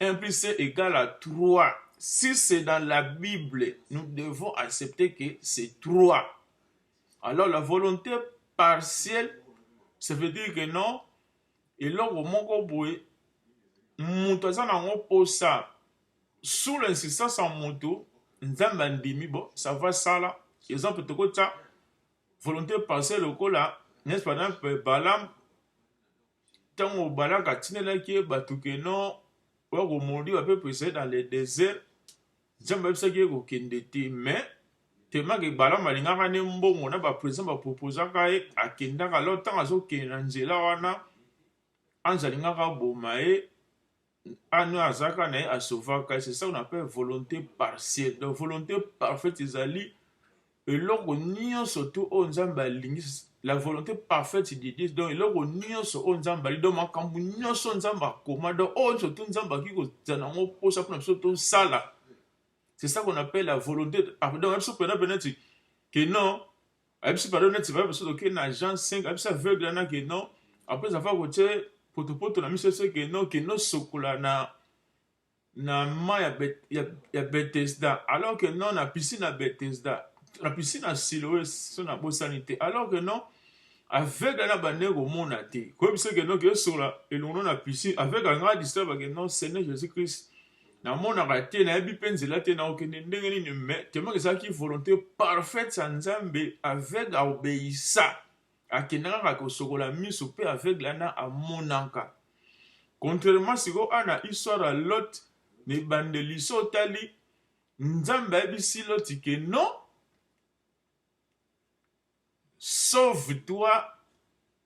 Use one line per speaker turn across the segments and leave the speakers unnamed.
Un plus c'est egal à trois. Si c'est dans la Bible, nous devons accepter que c'est trois. Alors la volonté partielle, ça veut dire que non, eloko moko boye moto aza nango mposa sous l'insistance ya moto nzambe andimi bo ça va sala exemple tokotya volonté partielle lokola n'est-ce pas balaam Tango Balak atindelaki ye bato que non oya ko maudire ba peuples Israël dans le desert, Nzambe ayebisaki ye kokende te mais tellement que Balaam alingaka nde mbongo na ba present ba proposaka ye akendaka alors tango azokende na nzela wana anze alingaka aboma ye Anu azaka na ye asovaka c'est ça on appelle volonté partielle donc volonté parfaite ezali eloko nyonso tu oyo nzambe alingi la volonté parfaite de dieu donc eloko nyonso oyo nzambe alingi donc makambo nyonso nzambe akoma donc oyo nyonso tu nzambe akoki kozala na yango mposa mpona biso tosala c'est ça qu'on appelle la volonté parfaite donc biso mpena mpena ti ke non ayebisi pardon neti baye basoto ke na jean 5 ayebisi aveugle wana ke non après avoir kotie potopoto na miso se ke non kende osokola na na ma ya, bet, ya, ya betesda alors que non na piscine ya betesda na piscine ya siloe so na bosani te alors que non aveugle na bande komona te koyebi se ke non keosokola elongo na piscine aveugle anga distrabake non seigneur jésus christ namonaka te nayebi mpe nzela te naokende ndenge nini me temaka ezalaki volonté parfaite ya nzambe aveugle aobeisa akenda kaka kosokola miso mpe aveugle ana amonaka contrairement sikoyo ana histoire ya lot na ebandeli so otali nzambe ayebisi loti ke non sauve toi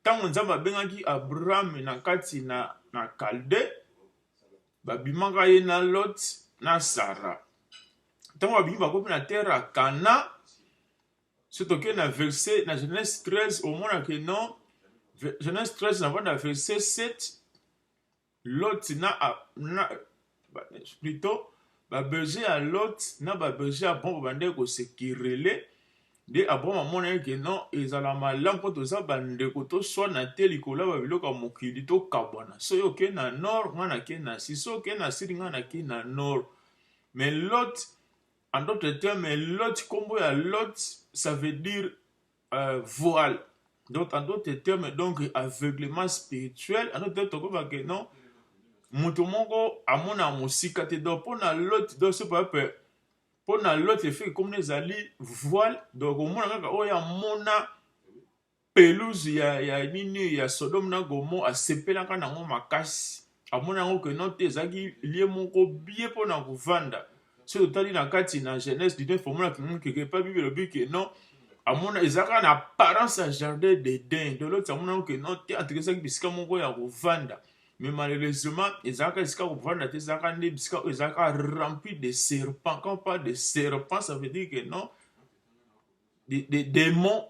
Ntango Nzambe abengaki Abrahame na kati na, na Kalde, babimaka ye na Lot na Sara. Ntango babimi bakomi na terre ya Kana, soki tokei na verse na Genèse 13 omonake non Genèse 13 na banda verse 7 Lot na na plutot ba besoin ya Lot na ba besoin ya Abraham babandaki ko se querelle nde Abraham amonaki ke non ezala malamu mpo toza bandeko toswana te likolo ya babiloko ya mokili tokabwana soki oke na nord ngai nake na si soki oke na sud ngai nake na nord mais Lot en d'autres termes Lot nkombo ya Lot ça veut dire euh, voile donc en d'autres termes donc aveuglement spirituel en d'autres termes tokoba que non moto moko amona mosika te donc mpo na lote donc so pape mpo na lote efeki komona ezali voile donc omona kaka oyo amona pelouse ya, ya nini ya sodome na gomo asepelaka nango makasi amona yango que non te ezalaki lie moko bie mpo na kovanda soki otali na kati na genèse du neuf omona keke epai bible elobi que non amona ezalaka na apparence ya jardin d'eden de loti amona yango que non te antuka ezalaki bisika moko ya kovanda mais malheureusement ezalaka esika kovanda te ezalaka nde bisika oyo ezalaka rempli de serpent quand pas de serpent ça veut dire que non des de, de démons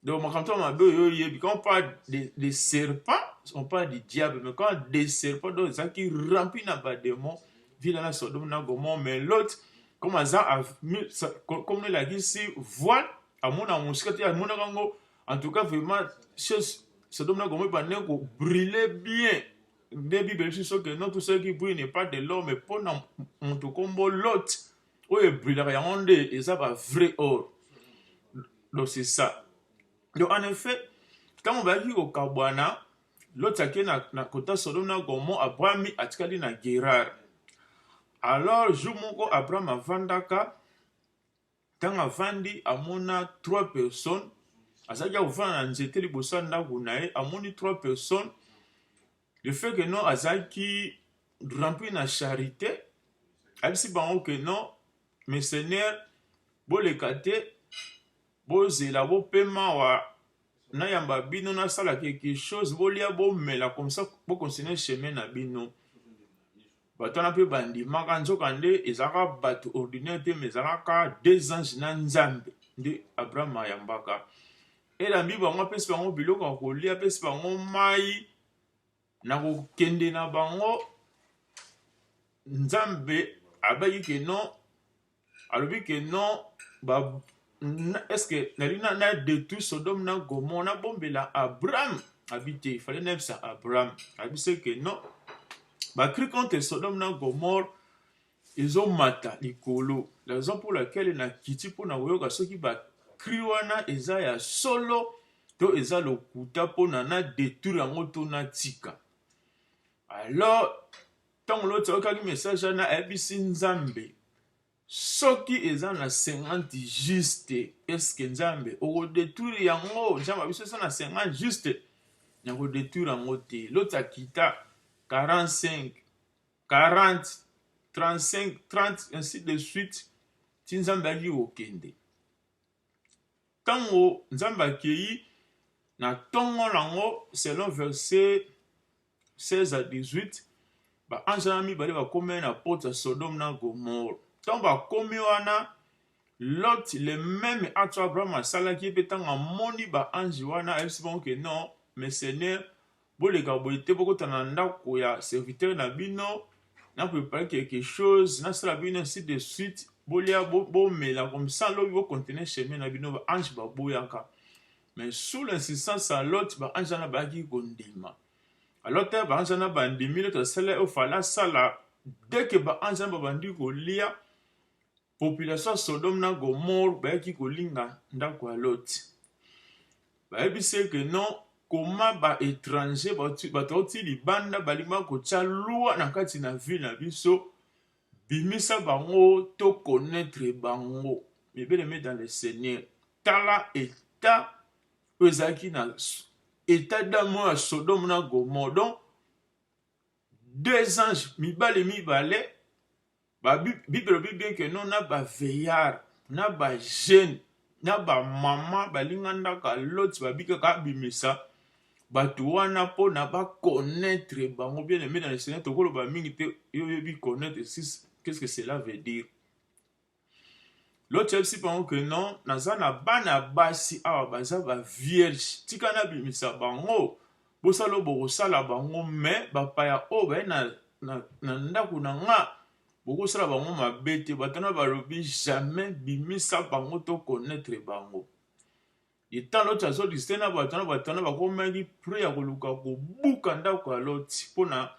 Donc, makambo ya mabe oyo oyebi, quand on parle de, de serpent, on parle du diable, mais quand on de serpent, donc ezalaki rempli na bademon, vila na Sodome na Gomorre, mais l'autre, comme aza, comme elakisi voile, amona mosika te, amonaka yango, en tout cas, vraiment, chose, Sodome na Gomorre ebandaki kobrille bien, nde bible biso soki non tout ce qui brille n'est pas de l'homme, mpo na moto nkombo Lot, oyo ebrilaka yango nde eza ba vrai or donc c'est ça donc en effet ntango bayaki kokabwana loti ake na, na kota sodome na gomo abrahami atikali na gerare alors jour moko abraham avandaka ntango avandi amona trois personnes azalaki akofanda na nzete liboso ya ndako na ye amoni trois personnes Le fait que non azalaki rempli na charite ayebisi bango que non mes seigneurs boleka te bozela bopema wa nayamba bino nasala quelque chose bolia bomela comme ça bocontinue chemin na bino bato wana mpe bandimaka nzokande ezalaka bato ordinaire te mais ezalaka deux ange na nzambe nde abraham ayambaka Elambi bango, apesi bango biloko ya kolia, apesi bango mai na kokende na bango. Nzambe abaki ke non, alobi ke non, ba eske nali na na detruire Sodome na Gomorrhe na bombela Abraham abi te il fallait nayebisa Abraham abi se ke non bakri contre Sodome na Gomorrhe Ezo mata likolo la raison pour laquelle na kiti mpo na koyoka soki ba cri wana eza ya solo to eza lokuta mpo na na detruire yango to na tika alors ntango loti ayokaki message wana ayebisi nzambe soki eza na 50 juste eske nzambe okodetruire yango nzambe ya biso eza na 50 juste nakodetruire yango te loti akita 45 40 35 30 ainsi de suite ti nzambe alingi kokende ntango nzambe akei na ntongo nango selon verset 16 à 18 baange wana mibale bakomei na porte ya sodome na gomore ntango bakomi wana lot le meme ato abraham asalaki ye mpe ntango amoni baange wana ayebisi bango ke non mais seigneur Boleka boye te, bokota na ndako ya serviteur na bino, na prepare quelque chose, nasala bino ainsi de suite, bolia bomela bo comme ça lobi bo continuer chemin na bino ba ange baboyaka. Mais sous l'insistance ya Lot, ba ange wana bayaki kondima. Alors te ba ange wana bandimi, Lot asala oyo fala asala, dès que ba ange wana babandi kolia, Population ya Sodome na Gomorrhe bayaki kolinga ndako ya Lot. Bayebisi ye que non, koma ba étrangers bato bauti libanda balinga kotya loi na kati na ville na biso, bimisa bango to connaître bango. Mais bien aimé dans le Seigneur, tala état oyo ezalaki na état d'âme ya Sodome na Gomorrhe. Donc deux anges mibale mibale Ba Bible elobi bien que non na ba veillards, na ba jeunes, na ba mamans balingandaka Lot babikaka abimisa bato wana mpona ba connaître bango bien aimé dans le Seigneur tokoloba mingi te yo oyebi connaître qu'est-ce que cela veut dire Lot ayebisi bango que non naza na bana basi awa baza ba vierge tika nabimisa bango Bosala oyo bokosala bango, me bapaya oyo baye na, na, na ndako na nga bokosala bango mabe te. Bato wana balobi jamais bimisa bango to connaître bango. Etant Loti azo discuter na bato wana, bato wana bakomaki près ya koluka kobuka ndako ya Loti mpo na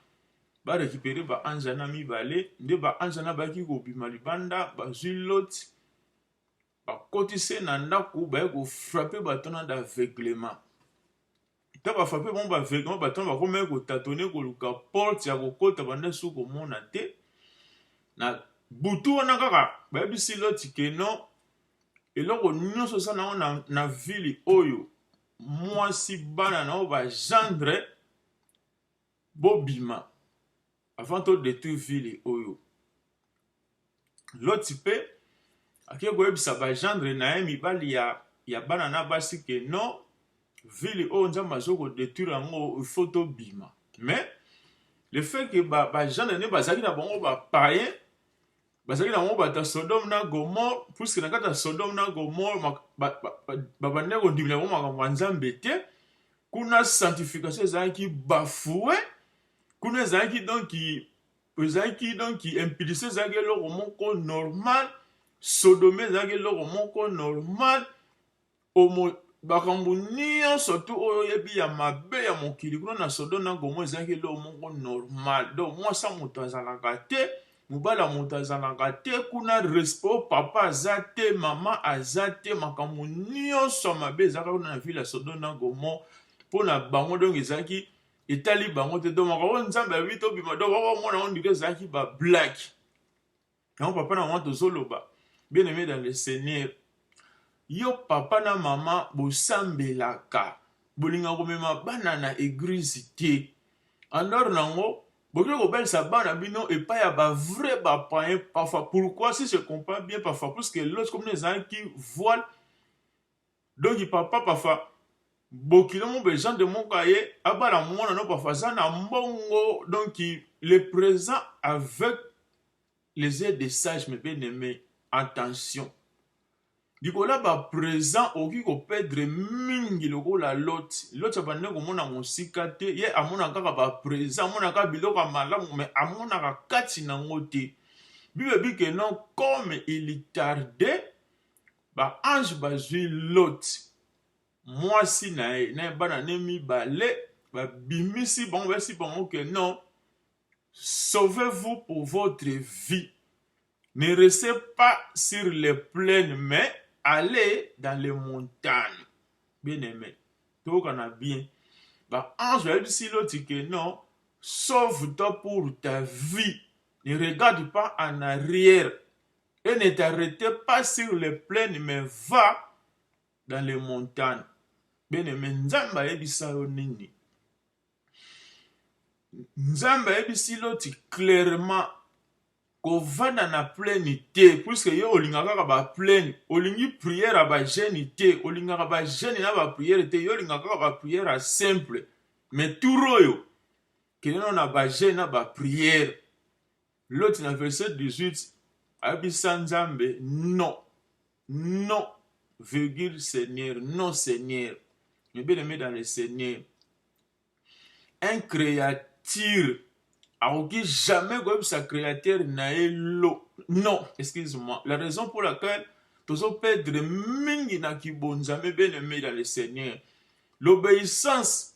ba récupérer ba anjana mibale, nde ba anjana bayaki kobima libanda, bazwi Loti bakoti se na ndako baye kofrape batona d'aveuglement ntango bafrape bango baaveuglement batona bakomaki kotatone koluka porte ya kokota banda esu komona te na butu wana kaka bayebisi loti ke no eloko nyonso osala nango na, na vile oyo mwasi bana na yo bagendre Bobima avant to detruire ville oyo. Loti pe ake koyebisa ba gendre na ye mibali ya, ya bana na basi ke non, ville oyo Nzambe azo ko detruire yango il faut tobima. Mais le fait que ba, ba gendre ne bazalaki na bango ba païens, bazalaki na bango bato ya sodome na gomore puiske na kati ya sodome na gomore babandaki kondimela bango makambo ya nzambe te kuna sanctification ezalaki bafoue kuna ezalaki donc ezalaki donc impulsion ezalaki eloko moko normal sodome ezalaki eloko moko normal Omo, bakambo nionso tout oyo oyebi ya mabe ya mokili kuna na Sodome na Gomore ezalaki eloko moko normal. Donc mwasi ya moto azalaka te, mobali ya moto azalaka te kuna, respect oyo papa aza te, mama aza te, makambo nionso ya mabe ezalaka kuna na ville ya Sodome na Gomore mpo na bango donc ezalaki etali bango te donc makambo oyo Nzambe alobi tobima donc bakomona yango on dirait ezalaki ba blague. yango papa na mama tozoloba bien aimé dans le seigneur yo papa na mama bosambelaka bolinga komema bana na eglise te alors nango bokoki kobalisa bana bino epai ya bavrai bapayen parfois pourquoi si je comprends bien parfois puisque lorsque mino ezalaki voile Donc papa pafa bokilo mo besoin de moko aye abala mwana no pafa aza na mbongo donc le présent avec les aides de sage mais bien aimé attention likola ba présent okoki kopedre mingi lokola loti loti abandi komona mosika te ye amona kaka ba présent amonaka biloko ya malamu me amonaka kati na yango te bible bikeno comme il tardait ba ange bazwi lot mwasi na ye na bana ne mibale babimisi bango basi bango ke non sauvez-vous pour votre vie ne restez pas sur les plaines mais allez dans les montagnes bien aimé tokana bien ba ange bayebisi loti ke non sauve-toi pour ta vie ne regarde pas en arrière Et ne t'arrete pas sur les plaines mais va dans les montagnes. Bene me Nzambe ayebisa yo nini? Nzambe ayebisi Loti clairement kovanda na plaine te puiske yo olingaka kaka ba plaine olingi priere ya bagene te olingaka bagene na bapriere te yo olingaka kaka bapriere ya simple me tour oyo kende nao na bagene na bapriere Loti na verset 18 ayebisa Nzambe non non virgule Seigneur non Seigneur mais bien aimé dans le Seigneur un créature akoki jamais koyebisa créateur na ye lo non excuse moi la raison pour laquelle tozo perdre mingi na kibonzambe bien aimé dans le Seigneur l'obéissance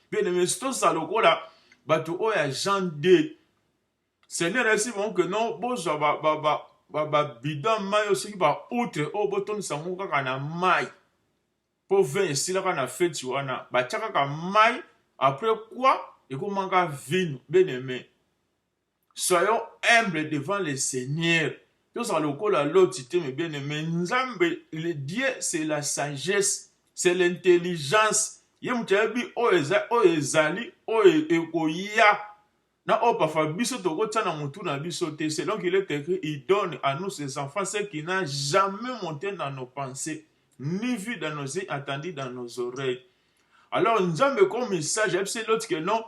Bien aimé, tosala lokola bato oyo ya Jean 2. Seigneur ayebisi bango ke non, bozwa babidon ya mai oyo soki baoutre oyo botondisa yango kaka na mai mpo vin esilaka na feti wana batya kaka mai après quoi ekomaka vino bien aimé Soyons humbles devant le seigneur tozala lokola loti te mes bien aime nzambe le dieu c'est la sagesse c'est l'intelligence ye moto ayebi oyo eza oyo ezali oyo ekoya na oyo parfois biso tokotia na motu na biso te selon qu'il est écrit il donne à nous ses enfants ce qui n'a jamais monté dans nos pensées ni vu dans nos yeux attendu dans nos oreilles alors nzambe comme sage ayebisi loti que non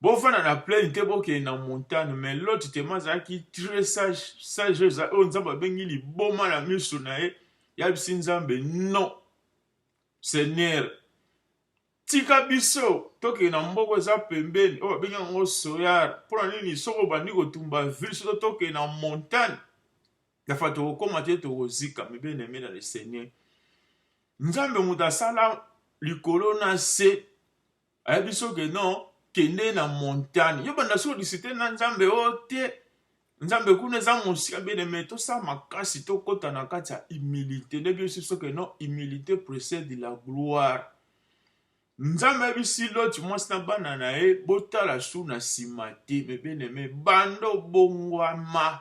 Bofanda na plaine te bokende na montagne mais Lot tellement azalaki très sage sage eza oyo Nzambe abengi liboma na miso na ye yabisi Nzambe non Seigneur tika biso tokende na mboka eza pembeni oyo babengi yango soyar mpo na nini soki obandi kotumba ville soki tokende na montagne yafa tokokóma te tokozika mibene mena le seigneur nzambe moto asala likolo na se ayebi so ke non kende na montagne yo banda so disite na nzambe o oh, te nzambe kuna eza mosika bene me tosala makasi tokɔta na kati ya humilité ndebi osi so ke non humilité précède la gloire nzambe ayebisi loti mwasi na bana na ye botala su na nsima te me bene me banda obongwama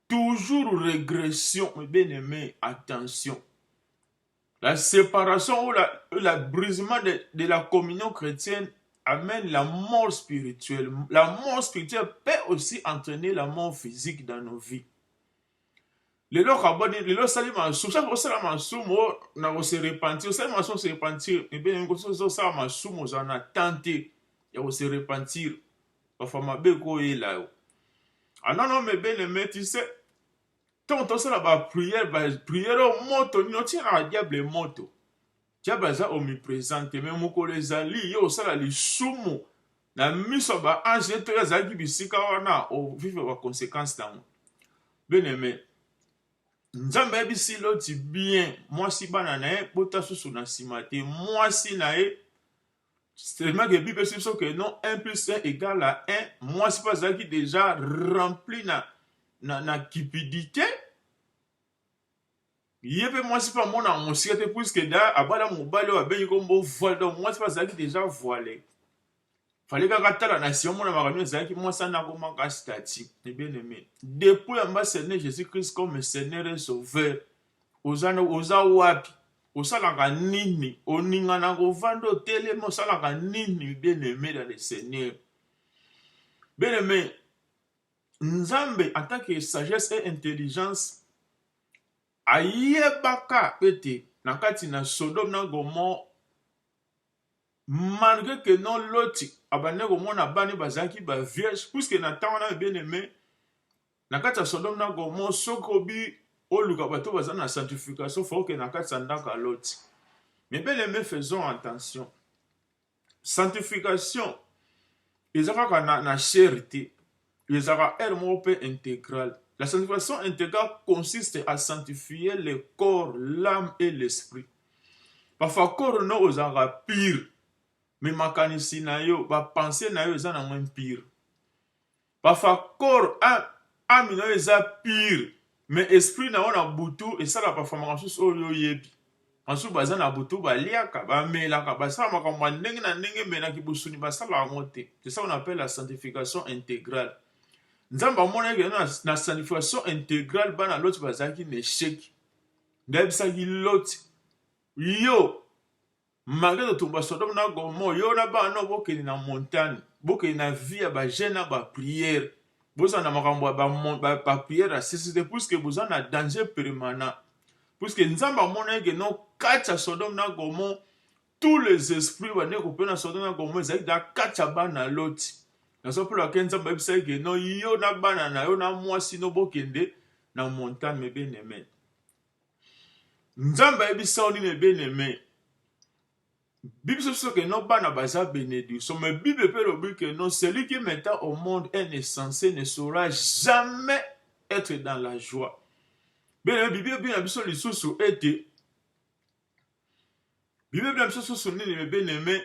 toujours régression me bene me attention La separation ou la, la brisement de, de la communion chrétienne amène la mort spirituelle. La mort spirituelle peut aussi entraîner la mort physique dans nos vies. lelo kaboni lelo osali masumu sasa osala masumu na kose repentir osali masumu se repentir ebene osala masumu oza na temps te ya kose repentir bafa mabe koyela yo anano mebene metise ntango tosala bapriere bapriere oyo moto nini otia na badiable moto diable aza omipresente me mokolo ezali yo osala lisumu na miso ya baange ye to ye azalaki bisika wana ovivre baconsequence nango bien aime nzambe ayebisi loti bien mwasi bana na ye bota susu na nsima te mwasi na ye Seulement que Bible epesi biso que non 1 plus 1 égale à 1, mwasi mpe azalaki déjà rempli na, na, na cupidité ye mpe mwasi mpe amona mosika te puiske da abala mobali oyo abengi kombo voile donc mwasi mpe azalaki déjà voile fale kaka tala na nsima mona makambo ezalaki mwasi ana akomaka stati bien aimé depuis ambassadeur jésus christ comme seigneur et sauveur oza na oza wapi osalaka nini oningana kovanda otelemi osalaka nini bien aime dans le seigneur bien aime nzambe en tant que sagesse et intelligence ayebaka ete na kati na sodome na gomore malgré que non loti abandaki komona bana bazalaki ba vierge puisque na ntango na bien aime Na kati ya sodome na gomo soki obi oluka bato baza na sanctification fo okende na kati ya ndako ya loti mais bel aime faisons attention sanctification eza kaka na, na chair te ezalaka heure moko mpe intégrale la sanctification intégrale consiste à sanctifier le corps l'âme et l'esprit parfois corps no ozalaka pire mais makanisi na yo bapense na yo eza nango impire Pa fakor a ami nayo eza pure mais esprit na yo na butu esala pa famaka susu oyo yo yebi basusu baza na butu ba liaka ba melaka ba sala makambo ma ndenge na ndenge mais na kibusuni ba sala yango te c'est ça on appelle la sanctification integrale nzambe amonaki que na, na sanctification integrale bana loti bazalaki na echec ndayebisaki loti yo Malgré to tumba Sodome na Gomorrhe, yo na bana no bokende na montagne, bokende na vie ya ba jeune na ba prière. Boza na makambo ya ba, ba, ba prière ya sesite puisque boza na danger permanent. Puisque Nzambe amonaki que non kati ya Sodome na Gomorrhe tous les esprits bande kopena Sodome na Gomorrhe ezalaki da kati ya bana Loti. Nazo pela ke Nzambe ayebisaki que non yo na bana na yo na mwasi no bokende na montagne mes bien-aimés. Nzambe ayebisa yo nini bien aime bibiso biso ke no bana baza benediction mais bible mpe elobi ke non celui qui mettant au monde un insensé ne saura jamais être dans la joie bien bibi ebi na biso lisusu ete bibi ebi na biso susu nini bebe neme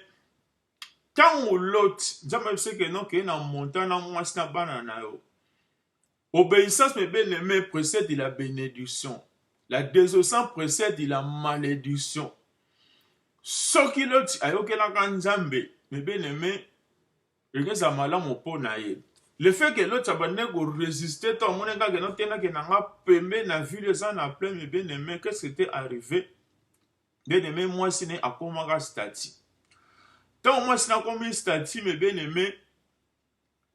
ntango loti nzambe ayebisaki eno kei na monta na mwasi na bana na yo Obeissance mes bien aime precede la benediction la desobsance precede la malediction soki loti ayokelaka nzambe mes bien aime ekeza malamu mpo na ye le fait que loti abandaki koresiste to amoni kaka no tenake na nga pembe na vile eza na plein mes bien aime qu'est ce que te arrive bien aime mwasi ne akomaka stati ntango mwasi nakomi stati mes bien aime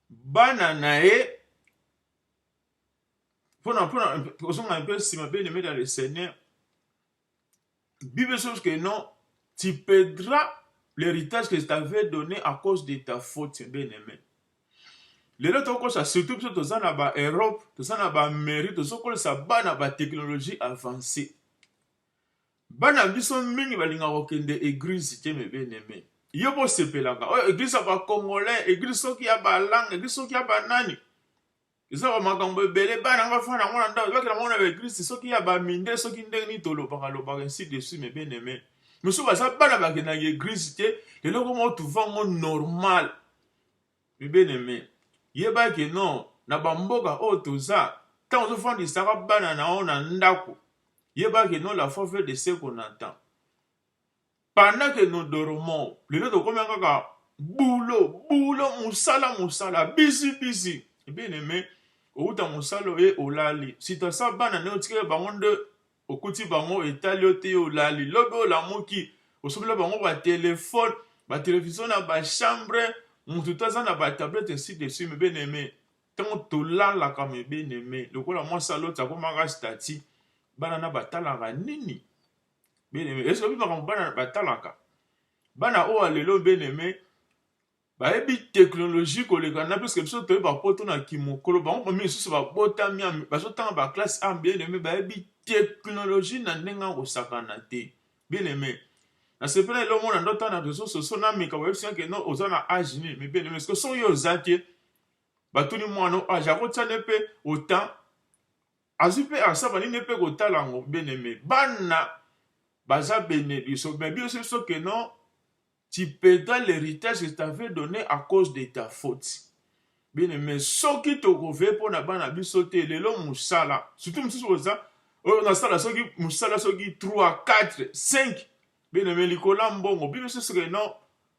bana na ye mpona mpona kozonga mpe nsima bien aimé dans le seigneur bible chose que non tu perdras l'héritage que je t'avais donné à cause de ta faute bien aimé lelo tokokosa surtout biso toza na baeurope toza na baamérique tozokolisa bana batechnologie avancée Bana biso mingi balingaka kokende eglise te mes bien aime. Yo bosepelaka oyo eglise ya ba congolais, eglise soki ya ba langue, eglise soki ya ba nani. Eza ba makambo ebele bana nga fana yango na ndako bakela mona ba eglise soki ya ba minde soki ndenge nini tolobaka lobaka ainsi de suite mes bien aime. Misusu baza bana bakendaka eglise te lelo koma otuva ngo normal mes bien aime. Yeba ke non na bamboka oyo toza ntango ozofandisaka bana na yo na ndako Yeba que non la foi veut de ce qu'on entend. Pendant que nous dormons, lelo tokomi kaka boulot, boulot, musala, musala, busy, busy. Eh bien aimé, outa musala oye olali. Si ta sa bana ne otikela bango nde okuti bango etali yo te olali. Lobi olamuki, osomela bango ba telefone, ba television na ba chambre, mutu te aza na ba tablette ainsi de suite. Eh bien aimé, Tango tolalaka mes bien aime lokola mwasi ya Loti akomaka stati bana na batalaka nini bien aime esobi makambo bana batalaka bana oyo alelo bien aime bayebi teknologie koleka na biso biso toyebi bapoto na kimokolo bango bami lisusu babotami bazotanga baklasse a bien aime bayebi teknologie na ndenge ya kosakana te bien aime nasepela elo omona ndotanga na réseau socio nameka bayebisaki no oza na age nini mais bien aime soki yo oza te batuni mwana oyo age akotia ne mpe otan azwi mpe asa bani ne mpe kotala yango beneme bana baza bene biso me biso biso ke non tu peda l'héritage que t'avais donné à cause de ta faute bene me soki tokove mpo na bana biso te lelo mosala surtout mosusu oza oyo nasala soki mosala soki 3 4 5 bene me likola mbongo biso biso ke non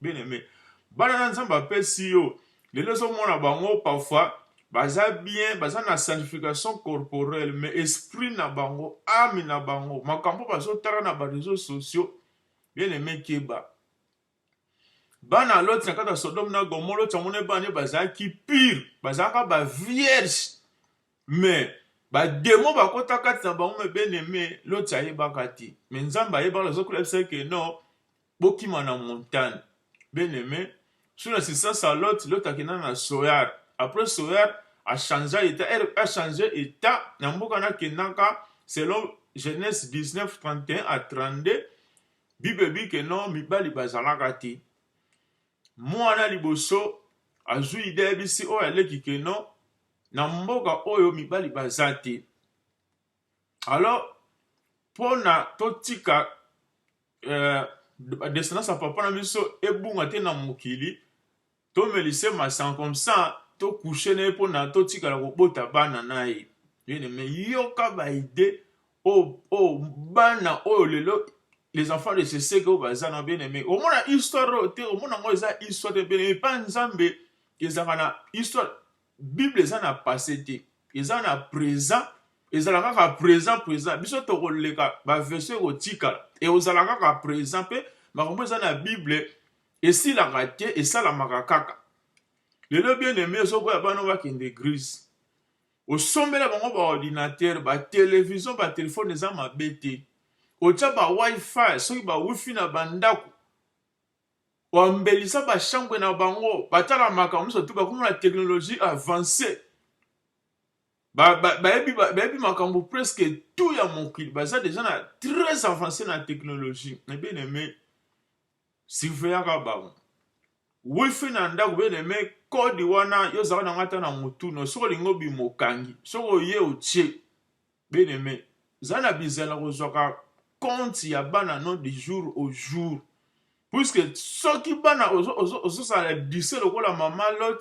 Bien aime, bana na Nzambe apesi yo, lelo ezomona bango parfois baza bien, baza na sanctification corporelle, mais esprit na bango, ame na bango, makambo bazotala na ba reseaux sociaux, bien aime keba. Bana ya Loti na kati ya Sodome na Gomorrhe, Loti amonaki bana ye bazalaki pire, bazalaka ba vierge, mais bademo bakota kati na bango, mais bien aime, Loti ayebaka te, mais Nzambe ayebaka, azokolabisa ke non bokima na montagne bien aime sur assistance à lot lot akenda na soyar après soyar a changea etat ere a change etat na mboka nakendaka selon genese 1931 à 32 bible ebi ke no mibali bazalaka te mwana liboso azwi ide yebisi oyo aleki ke no na mboka oyo mibali baza te alors pona totika euh, descendance ya papa na biso ebunga te na mokili tomelise masanga comme ça tokouche na ye mpona totikala kobota bana na ye bien-aimé yoka baide oyo oh, oh, bana oyo lelo les enfants de seseke oyo baza na bien-aimé omona histoire oyo te omona yango eza histoire te bien-aimé mpa nzambe ezalaka na histoire Bible eza na passe te eza na present ezala kaka present present biso tokoleka ba version ekotikala ekozala kaka present mpe makambo eza na bible esilaka te esalamaka kaka lelo bien aime ozoboya bana bakende eglise osombela bango baordinateur batelevizio batelefone eza mabe te otya bawifi soki bawifi na bandako Koambelisa ba chambre na bango batala makambo nyonso te bakoma na technologie avance bayebi makambo presque tout ya mokili baza deja na très avance na technologie na bien aime surveillaka bango wifi na ndako bien aime kode wana yo ozalaka na ngai ata na motuna soki olingi obima okangi soki oye otie Bien aime za na bizela kozwaka compte ya bana no du jour au jour puisque soki bana ozosala dise lokola mama lot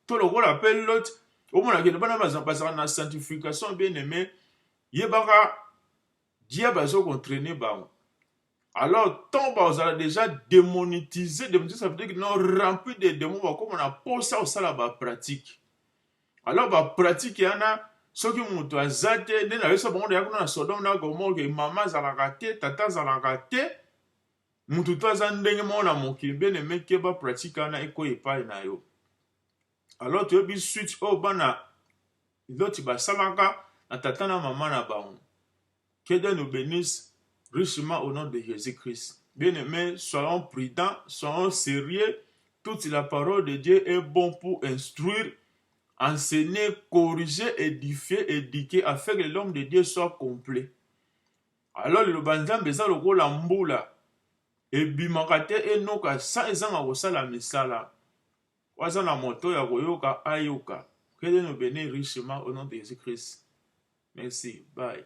to lokola pe lot omona kende bana bazalaka na sanctification bien aime yebaka diable azokontraine bango Alors, tant bazala déjà démonétisé, démonétisé, ça veut dire que non rempli des démons, bakoma na posa osala ba pratique. Alors ba pratique yana soki moto aza te nde nayosa bango deya kuna na sodome na gomore ke mama azalaka te tata azalaka te moto to aza ndenge moko na mokili bien aime keba pratique wana ekoya epai na yo alors toyebi suite oyo bana loti basalaka na tata na mama na bango Que Dieu nous benisse richement au nom de Jésus-Christ. Bien-aimés, soyons prudents, soyons sérieux. Toute la parole de Dieu est bon pour instruire, enseigner, corriger, édifier, éduquer, afin que l'homme de Dieu soit complet. Alors, le banzambe eza lokola mbula ebimaka te enoka sans ezanga kosala misala Oyo aza na moto ya koyoka ayoka que Dieu nous benit richement au nom de Jesus Christ merci bye.